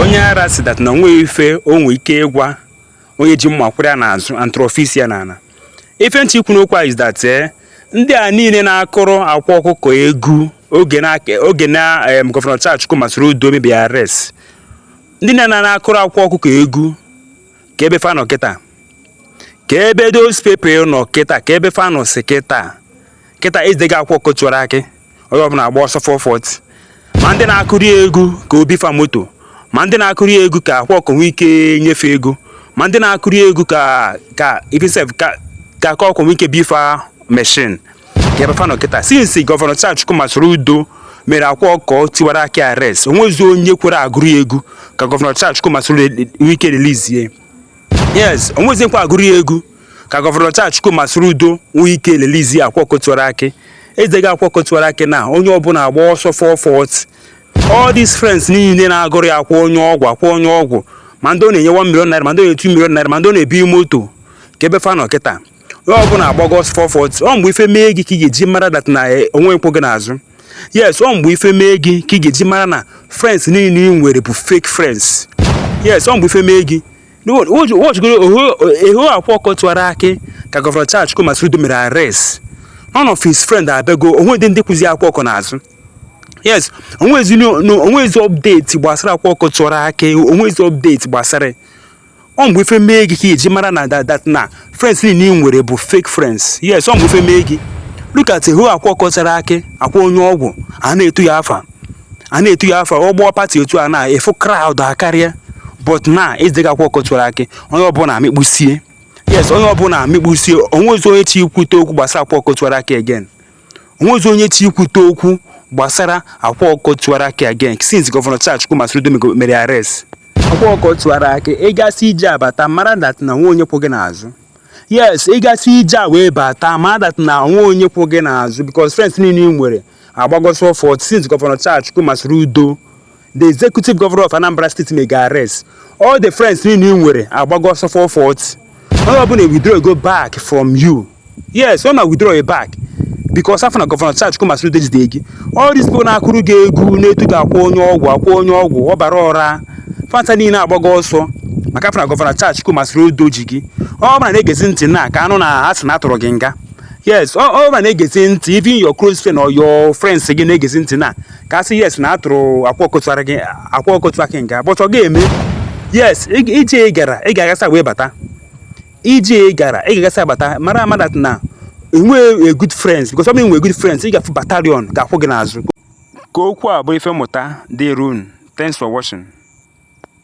onye ara sị that na onweghị ife o nwe ike ịgwa onye ji mma kwụrụ ya n'azụ until ọ fụ isi ya n'ala ife m chọ ikwu n'okwu a is that eh, ndị a niile na-akụrụ akwa ọkụkọ egwu oge na oge na em, gọvanọ Charles Chukwuma Soludo mebiri arrest ndị na na na-akụrụ akwa ọkụkọ egwu kee ebe fa nọ kịta kee ebe those people nọ kịta kee ebe fa nọzi kịta kịta ejidego akwa ọkụkọ tiwara akị onye ọbụla agba ọsọ 440 ma ndị na-akụrụ egwu ka o bi fa moto ma ndị na-akụrụ egwu ka akwa ọkụkọ nwee ike nye fa ego ma ndị na-akụrụ egwu ka ka ife sef ka ka akwa ọkụkọ nwee ike bi fa machine kee ebe fa nọ kịta since gọvanọ Charles Chukwuma Soludo mere akwa ọkụkọ tiwara akị arrest onwezi onye kwere agụrụ egwu ka gọvanọ Charles Chukwuma Soludo nwee ike release ya yes onwezi nkwa agụrụ egwu ka gọvanọ Charles Chukwuma Soludo nwee ike release akwa ọkụkọ tiwara akị ejidego akwa ọkụkọ tiwara akị na onye ọbụla agba ọsọ 440 all these friends niile na-agụrụ ya akwa onye ọgwụ akwa onye ọgwụ ma ndị ọ na-enye 1 million naira ma ndị ọ na-enye 2 million naira ma ndị ọ na-ebi moto kee ebe fa nọ kịta onye ọbụla agbago ọsọ 440 ọ mgbe ife mee gị ka ị ga-eji mara that na eh, onwe onye kwụ gị n'azụ yes ọ mgbe ife mee gị ka ị ga-eji mara na friends niile ị nwere bụ fake friends yes ọ mgbe ife mee gị watchigodu how akwa ọkụkọ tiwara akị ka gọvanọ Charles Chukwuma Soludo mere arrest none of his friend abịago onwedị ndị kwụzi akwa ọkụkọ n'azụ yes onwezi update gbasara akwa ọkụkọ tiwara akị onwezi update gbasara ọ mgbe ife mee gị ka ị ji mara na that na friends niile ị nwere bụ fake friends yes ọ mgbe ife mee gị look at how akwa ọkụkọ tiwara akị akwa onye ọgwụ a na-etu ya afa a na-etu ya afa ọ kpọ party otu a na ị fụ crowd akarịa but na ejidego akwa ọkụkọ tiwara akị onye ọbụla amịkpusie yes onye ọbụla amịkpusie onwezi onye chọ ikwute okwu gbasara akwa ọkụkọ tiwara akị again onwezi onye chọ ikwute okwu gbasara akwa ọkụkọ tiwara akị again since gọvanọ Charles Chukwuma Soludo mere arrest akwa ọkụkọ tiwara akị ị gasịa ije abata mara that na onwe onye kwụ gị n'azụ yes ị gasịa ije a wee bata mara that na onwe onye kwụ gị n'azụ because friends niile ị nwere agbago ọsọ 440 since gọvanọ Charles Chukwuma Soludo the executive governor of Anambra State mee gị arrest all the friends niile ị nwere agbago ọsọ 440 onye ọbụla withdraw go back from you yes ọ na withdraw back because a fụ na gọvanọ Charles Chukwuma Soludo jide gị all these people na-akụrụ gị egwu na-etu gị akwa onye ọgwụ akwa onye ọgwụ ọbara ọra fa ncha niile agbago ọsọ maka a fụ na gọvanọ Charles Chukwuma Soludo ji gị ọ bụla na-egezi ntị na ka a nụ na ha sị na a tụrụ gị nga yes ọ bụla na-egezi ntị even your close friend all your friends gị na-egezi ntị na ka a sị yes na a tụrụ akwa ọkụkọ tiwara akị akwa ọkụkọ tiwara akị nga but ọ ga-eme yes ije ị gara ị ga-agasa wee bata ije ị gara ị ga-agasa bata mara ama that na enwe good friends because ọ bụ enwe good friends ị ga-afụ battalion ga-akwụ gị n'azụ ka okwu a bụrụ ife mmụta dịrị unu thanks for watching